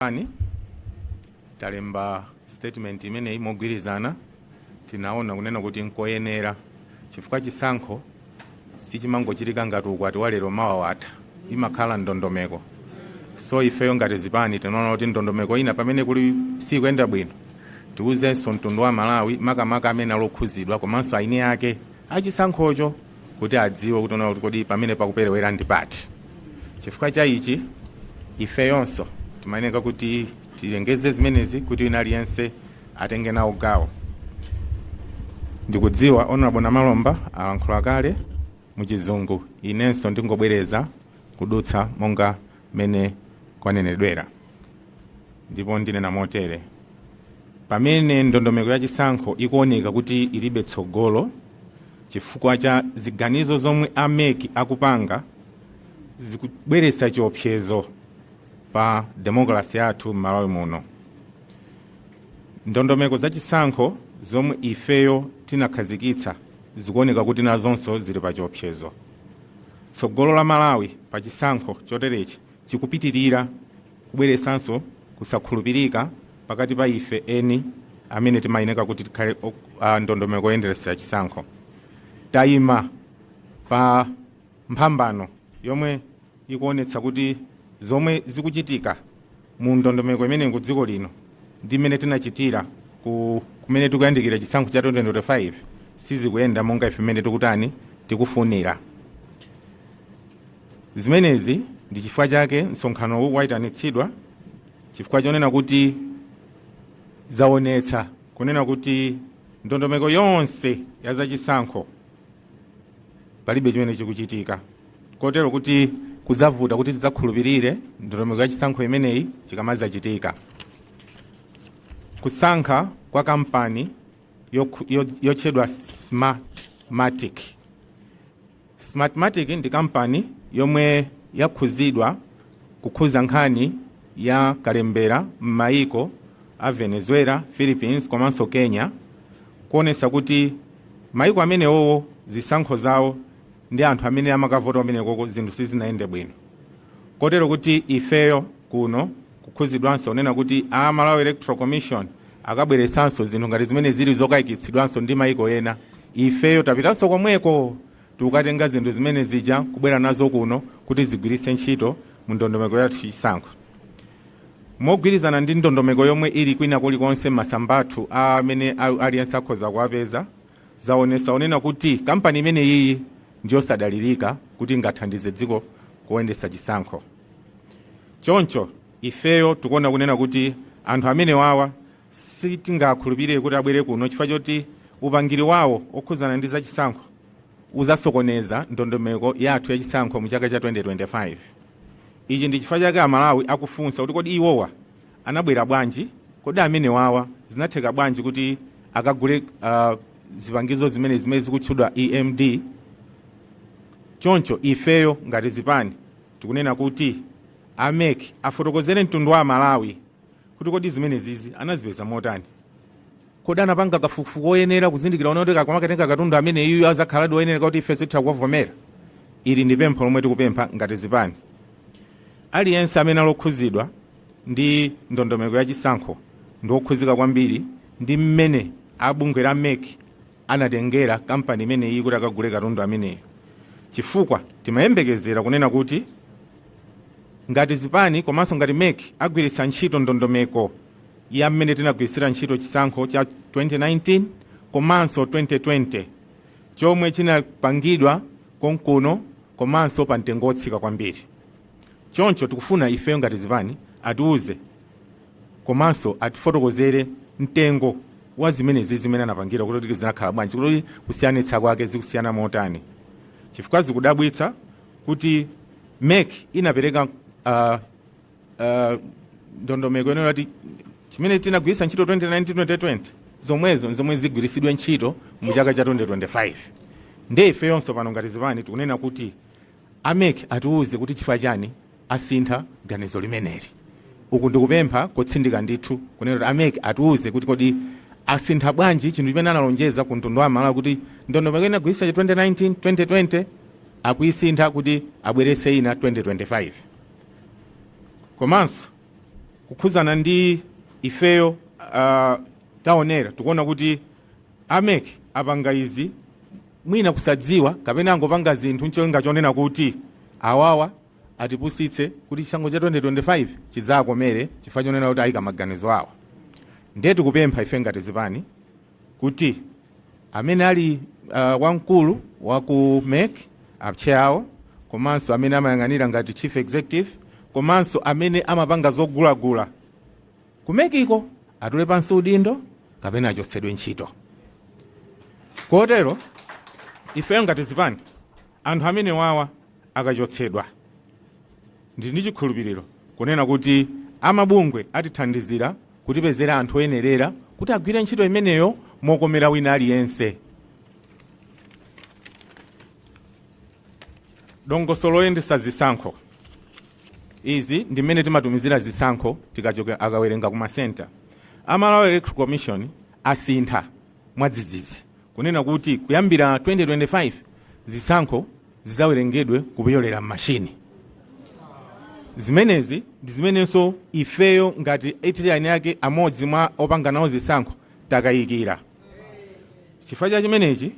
ani talemba statement imeneyi mogwirizana tinaona kunena kuti nkoyenera chifukwa chisankho sichimangochitika ngati ukwati wa lero mawa watha imakhala ndondomeko so ifeyo ngati zipani tinaona kuti ndondomeko ina pamene kuli sikuyenda bwino tiuzenso mtundu wa malawi makamaka amene ali okhudzidwa komanso eni ake achisankhocho kuti adziwe kuti kuona kuti kodi pamene pakuperewera ndi pati chifukwa cha ichi ifeyonso timayeneka kuti tilengeze zimenezi kuti wina aliyense atenge nawo gawo ndikudziwa honorable namalomba alankhula kale muchizungu inenso ndingobwereza kudutsa monga mmene kwanenedwera ndipo ndinena motere pamene ndondomeko ya chisankho ikuoneka kuti ilibe tsogolo chifukwa cha ziganizo zomwe a MEC akupanga zikubweretsa chiopsezo pa demokrasi yathu m'malawi muno ndondomeko za chisankho zomwe ifeyo tinakhazikitsa zikuoneka kuti nazonso zili pa chiopsezo Tsogolo la Malawi pa chisankho choterechi chikupitirira kubweretsanso kusakhulupirika pakati pa ife eni amene timayeneka kuti tikhale a ndondomeko yoyendetsera chisankho. Tayima pa mphambano yomwe ikuonetsa kuti zomwe zikuchitika mu ndondomeko imeneyi mu dziko lino ndi mmene tinachitira kumene tikuyandikira chisankho cha 2025 sizikuyenda monga ife mmene tikutani tikufunira zimenezi ndi chifukwa chake msonkhanowu wayitanitsidwa chifukwa chonena kuti zaonetsa kunena kuti ndondomeko yonse ya zachisankho palibe chimene chikuchitika kotero kuti kudzavuta kuti tidzakhulupirire ndondomeko ya chisankho imeneyi chikamadzachitika kusankha kwa kampani yotchedwa smartmatic smartmatic ndi kampani yomwe yakhudzidwa kukhudza nkhani ya kalembera m'mayiko a venezuela philippines komanso kenya kuonetsa kuti Maiko amenewowo zisankho zawo ndi anthu amene amakavota kumenekoko zinthu sizinayende bwino kotero kuti ifeyo kuno kukhudzidwanso kunena kuti a Malawi Electoral Commission akabweretsanso zinthu ngati zimene zili zokayikitsidwanso ndi maiko ena ifeyo tapitanso komweko tikukatenga zinthu zimene zija kubwera nazo kuno kuti zigwiritse ntchito mu ndondomeko yathu yachisankho mogwirizana ndi ndondomeko yomwe ili kwina kulikonse masamba athu amene a- aliyense akhoza kuwapeza zaonesa kunena kuti kampani imene iyi ndiyosadalirika kuti ingathandize dziko kuyendetsa chisankho choncho ifeyo tikuona kunena kuti anthu amene wawa sitingakhulupirire kuti abwere kuno chifukwa choti upangiri wawo okhudzana ndi zachisankho uzasokoneza ndondomeko yathu yachisankho mu chaka cha 2025 ichi ndi chifukwa chake amalawi akufunsa kuti kodi iwowa anabwera bwanji kodi amene wawa zinatheka bwanji kuti akagule uh, zipangizo zimene zimene zikutchedwa emd choncho ifeyo ngati zipani tikunena kuti amec afotokozere mtundu wa amalawi kuti kodi zimenezizi anazipeza motani kodi anapanga kafukufuku oyenera kuzindikira kunena kuti akamakatenga katundu amene iyu azakhaladi oyenereka kuti ife titha kuvomera ili ndi pempho lomwe tikupempha ngati zipani aliyense amene alokhuzidwa ndi ndondomeko ya chisankho ndi okhuzika kwambiri ndi mmene abungwe la mec anatengera kampani imene iyi kuti akagule katundu ameneyo chifukwa timayembekezera kunena kuti ngati zipani komanso ngati mec agwiritsa ntchito ndondomeko ya mmene tinagwiritsira ntchito chisankho cha 2019 komanso 2020 chomwe chinapangidwa konkuno komanso pa mtengo wotsika kwambiri choncho tikufuna ifeyo ngati zipani atiuze komanso atifotokozere mtengo wa zimenezi zimene anapangira kuti zinakhala bwanji kuti kusiyanitsa kwake zikusiyana motani chifukwa zikudabwitsa kuti mec inapereka uh, uh, ndondomeko yonena kuti chimene tinagwiritsa ntchito 2019 2020 zomwezo nzomwe zigwiritsidwe ntchito mu chaka cha 2025 nde ifeyonso pano ngati zipani tikunena kuti amec atiwuze kuti chifukwa chani asintha ganizo limeneli. Uku ndi kupempha kotsindika ndithu kunena kuti a mec atiuze kuti kodi asintha bwanji chinthu chimene analonjeza ku mtundu wa Amalawi kuti ndondomeko imene anagwiritsa cha 2019 2020 akuisintha kuti abweretse ina 2025. Komanso kukhudzana ndi ifeyo uh, taonera tikuona kuti a mec apanga izi mwina kusadziwa kapena angopanga zinthu n'cholinga chonena kuti awawa atipusitse kuti chisankho cha 2025 chidzawakomere chifukwa chonena kuti ayika maganizo awo ndiye tikupempha ife ngati zipani kuti amene ali uh, wamkulu wa ku mec apcheya awo komanso amene amayang'anira ngati chief executive komanso amene amapanga zogulagula ku mec iko atule pansi udindo kapena achotsedwe ntchito kotero ife ngati zipani anthu amene wawa akachotsedwa. Ndili ndi chikhulupiriro kunena kuti a mabungwe atithandizira kutipezera anthu oyenerera kuti agwire ntchito imeneyo mokomera wina aliyense. Dongosolo loyendetsa zisankho. Izi ndi mmene timatumizira zisankho tikachoka akawerenga ku masenta. A Malawi Electoral Commission asintha mwadzidzidzi kunena kuti kuyambira 2025 zisankho zidzawerengedwe kupyolera m'mashini zimenezi ndi zimenenso ifeyo ngati italian ake amodzi mwa opanga nawo zisankho takayikira chifukwa cha chimenechi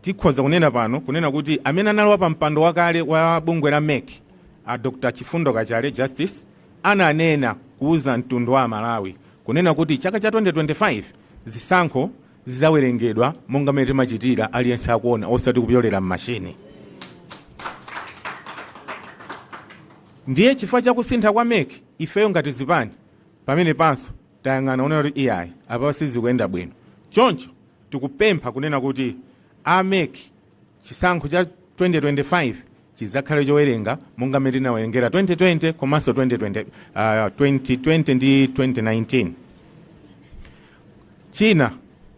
tikhoza kunena pano kunena kuti amene anali wa pampando wakale wa bungwe la mec a dr chifundo kachale justice ananena kuuza mtundu wa amalawi kunena kuti chaka cha 2025 zisankho zidzawerengedwa monga mmene timachitira aliyense akuona osati kupyolera m'mashini ndiye chifukwa cha kusintha kwa mec ifeyo ngati zipani pamene panso tayang'ana onena kuti iyayi apa sizikuyenda bwino choncho tikupempha kunena kuti a mec Chisankho cha 2025 chidzakhale chowerenga monga mmene tinawerengera 2020 komanso 2020, uh, 2020 ndi 2019. China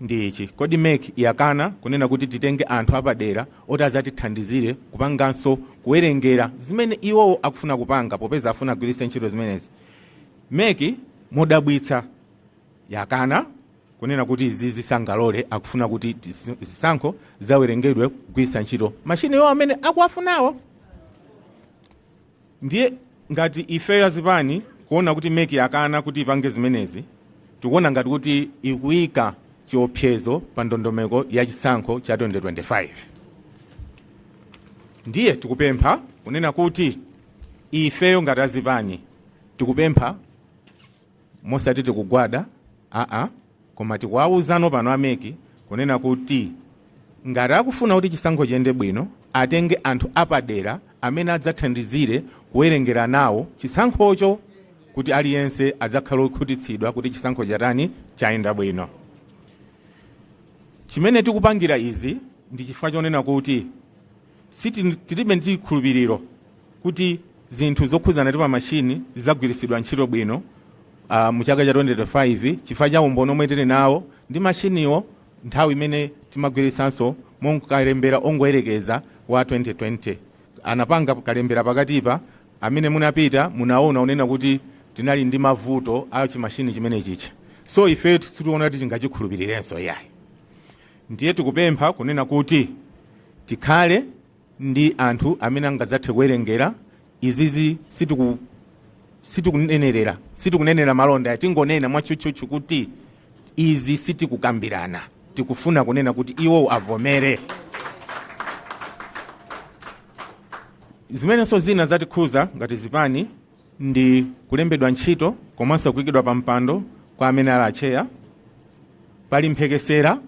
ndi ichi, kodi mec yakana kunena kuti titenge anthu apadera oti adzatithandizire kupanganso kuwerengera zimene iwowo akufuna kupanga popeza afuna agwiritse ntchito zimenezi? Mec modabwitsa yakana kunena kuti izi sangalole akufuna kuti zisankho zidzawerengedwe kugwiritsa ntchito mashini iwowo amene akuwafunawo ndiye ngati ifeyo azipani kuona kuti mec yakana kuti ipange zimenezi tikuona ngati kuti ikuyika chiopsezo pa ndondomeko ya chisankho cha 2025 ndiye tikupempha kunena kuti ifeyo ngati azipani tikupempha osati tikugwada aa koma tikuwauzano pano a mec kunena kuti ngati akufuna kuti chisankho chiyende bwino atenge anthu apadera amene adzathandizire kuwerengera nawo chisankhocho kuti aliyense adzakhale okhutitsidwa kuti chisankho chatani chayenda bwino chimene tikupangira izi ndi chifukwa chonena kuti Sitili, tilibe ndi chikhulupiriro kuti zinthu zokhudzana ndi pa mashini zidzagwiritsidwa ntchito bwino uh, mu chaka cha 2025 chifukwa cha umboni omwe tili nawo ndi mashiniwo nthawi imene timagwiritsanso mu kalembera ongoyerekeza wa 2020 anapanga kalembera pakatipa amene munapita munaona kunena kuti tinali ndi mavuto a chimashini chimenechija so ifeyo sitiona kuti tingachikhulupirirenso iyayi ndiye tikupempha kunena kuti tikhale ndi anthu amene angadzathe kuwerengera izizi sitiku sitikunenerera sitikunenera malonda tingonena mwatchutchutchu kuti izi sitikukambirana tikufuna kunena kuti iwowo avomere zimenenso zina zatikhuza ngati zipani ndi kulembedwa ntchito komanso kuikidwa pa mpando kwa amene ali atcheya pali mphekesera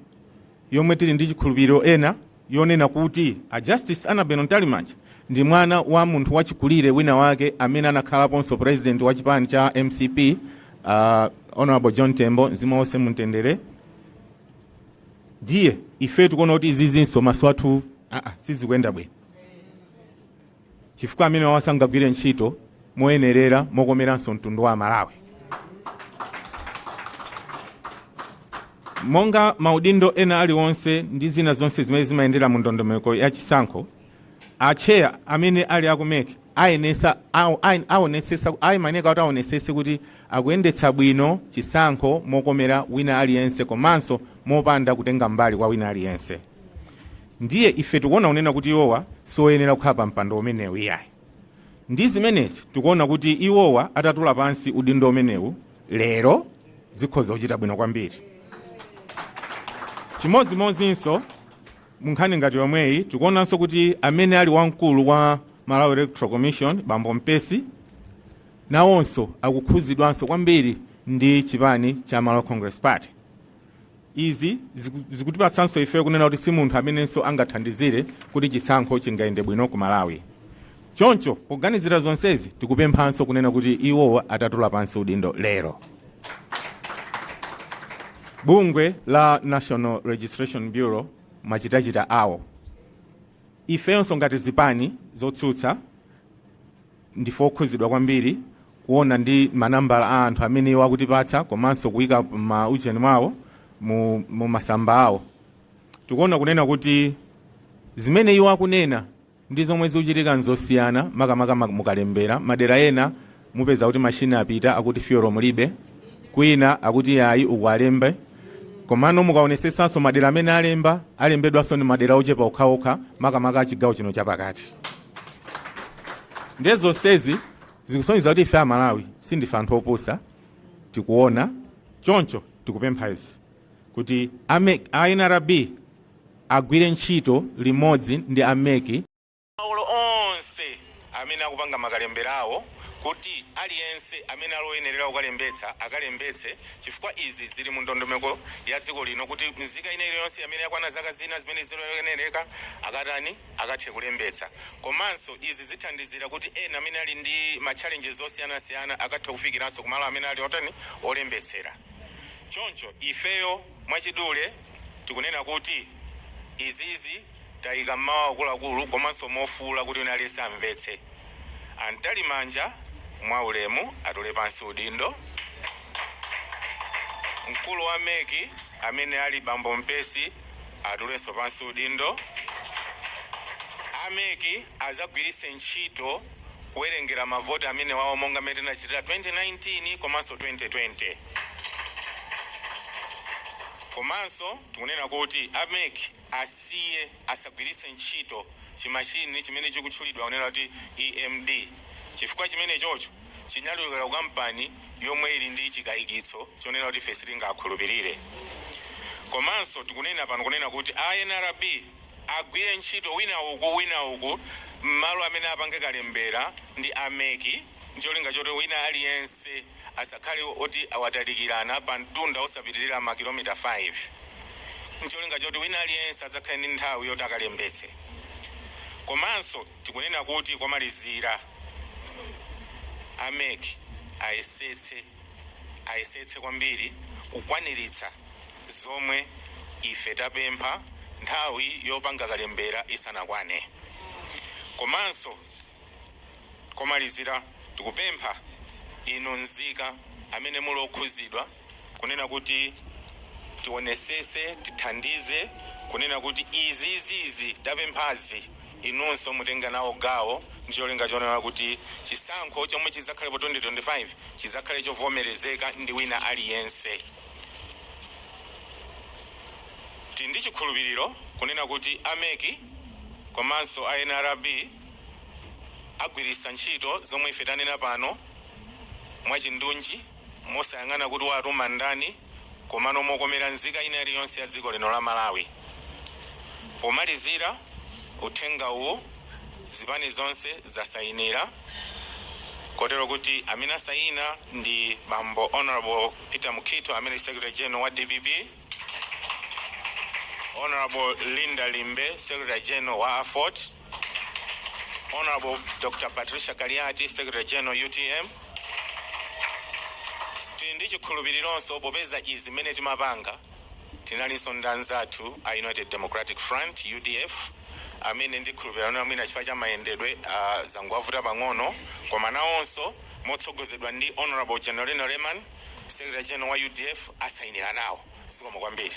yomwe tili ndi chikhulupiriro ina yonena kuti a justice annabel mtalimanja ndi mwana wa munthu wachikulire wina wake amene anakhalaponso president wa chipani cha mcp uh, honorable john tembo mzimu uwuse mumtendere ndiye ife tikuona kuti izizinso m'maso athu aa sizikuyenda bwino chifukwa amenewawa sangagwire ntchito moyenerera mokomeranso mtundu wa Amalawi. Monga maudindo ena aliwonse ndi zina zonse zimene zimayendera mu ndondomeko ya chisankho, atcheya amene ali aku mec ayenesa aw- ayen- aonesesa ayeneka kuti aonesese kuti akuyendetsa bwino chisankho mokomera wina aliyense komanso mopanda kutenga mbali kwa wina aliyense. ndiye ife tikuona kunena kuti iwowa sioyenera kukhala pa mpando umenewu iyayi ndi zimenezi tikuona kuti iwowa atatula pansi udindo umenewu lero zikhoza kuchita bwino kwambiri chimodzimodzinso munkhani ngati yomweyi tikuonanso kuti amene ali wamkulu wa malawi electoral commission bambo mpesi nawonso akukhudzidwanso kwambiri ndi chipani cha malawi congress party Izi zikutipatsanso ifeyo kunena kuti si munthu amenenso angathandizire kuti chisankho chingayende bwino ku Malawi. Choncho poganizira zonsezi, tikupemphanso kunena kuti iwowa atatula pansi udindo lero. Bungwe la National Registration Bureau machitachita awo, ifeyonso ngati zipani zotsutsa, Ndifo okhuzidwa kwambiri kuona ndi manambala a anthu amene iwo akutipatsa komanso kuika ma ujeni mwawo mu, mu masamba awo. Tikuona kunena kuti zimene iwo akunena ndi zomwe zikuchitika nzosiyana makamaka ma- mukalembera madera ena mupeza kuti machini apita akuti fiyolo mulibe kwina akuti yayi uku alembe komano mukaonesesanso madera amene alemba alembedwanso ndi madera ochepa okhaokha makamaka a chigawo chino chapakati ndiye zonsezi zikusonyeza kuti ife amalawi sindife anthu opusa tikuona choncho tikupempha izi kuti ame- a nrb agwire ntchito limodzi ndi amek malo onse amene akupanga makalemberawo kuti aliyense amene ali oyenerera kukalembetsa akalembetse chifukwa izi zili mu ndondomeko ya dziko lino kuti mzika ina iliyonse amene yakwana zaka zina zimene ziloyenereka akatani akathe kulembetsa. Komanso izi zithandizira kuti ena amene ali ndi ma challenges osiyanasiyana akathe kufikiranso ku malo amene ali otani, olembetsera. Choncho ifeyo mwachidule tikunena kuti izizi tayika mmawu akuluakulu komanso mofuula kuti wina aliyense amvetse. A Mtalimanja mwaulemu atule pansi udindo. Mkulu wa mec amene ali bambo Mpesi. atulenso pansi udindo. A mec azagwirise ntchito kuwerengera ma vote amenewawo monga mmene tinachitira 2019 komanso 2020. Komanso tikunena kuti a mec asiye, asagwirise ntchito chi machine chimene chikutchulidwa kunena kuti EMD chifukwa chimenechocho, chinachokera ku kampani yomwe ili ndi chikaikitso chonena kuti ife sitingakhulupirire. Komanso tikunena pano kunena kuti a nrb agwire ntchito wina uku wina uku mmalo amene apange kalembera ndi a mec ncholinga choti wina aliyense asakhale oti awatalikirana pa mtunda osapitirira ma kilomita 5 ncholinga choti wina aliyense adzakhale ndi nthawi yoti akalembetse. Komanso. Tikunena kuti komalizira a mec ayesetse ayesetse kwambiri kukwaniritsa zomwe ife tapempha nthawi yopanga kalembera isanakwane. Komanso komalizira tikupempha inu nzika amene muli okhuzidwa. kunena kuti tionesese tithandize kunena kuti izizi izi tapemphazi inunso mutenga nawo gawo ndi cholinga chonena kuti chisankho chomwe chizakhale po 2025 chizakhale chovomerezeka ndi wina aliyense tili ndi chikhulupiriro kunena kuti a mec komanso a nrb agwiritsa ntchito zomwe ife tanena pano mwachindunji Mosayang'ana kuti watuma ndani komano mokomera nzika ina iliyonse ya dziko lino la Malawi. Pomalizira uthenga uwu zipani zonse zasayinira kotero kuti amene asayina ndi Bambo Honorable Peter Mukhitho amene ndi Secretary General wa dpp. Hon. Linda Limbe, Secretary General wa Aford, Hon. Dr. Patricia Kaliati, Secretary General utm, Tili ndi chikhulupilironso popeza izi mmene timapanga tinalinso ndi anzathu a United Democratic Front, udf, amene ndikhulupilira kunena mwina chifukwa cha mayendedwe zangowavuta pang'ono koma nawonso motsogozedwa ndi Hon. Genarino Lemani, Secretary General wa udf asayinira nawo. Zikomo kwambiri.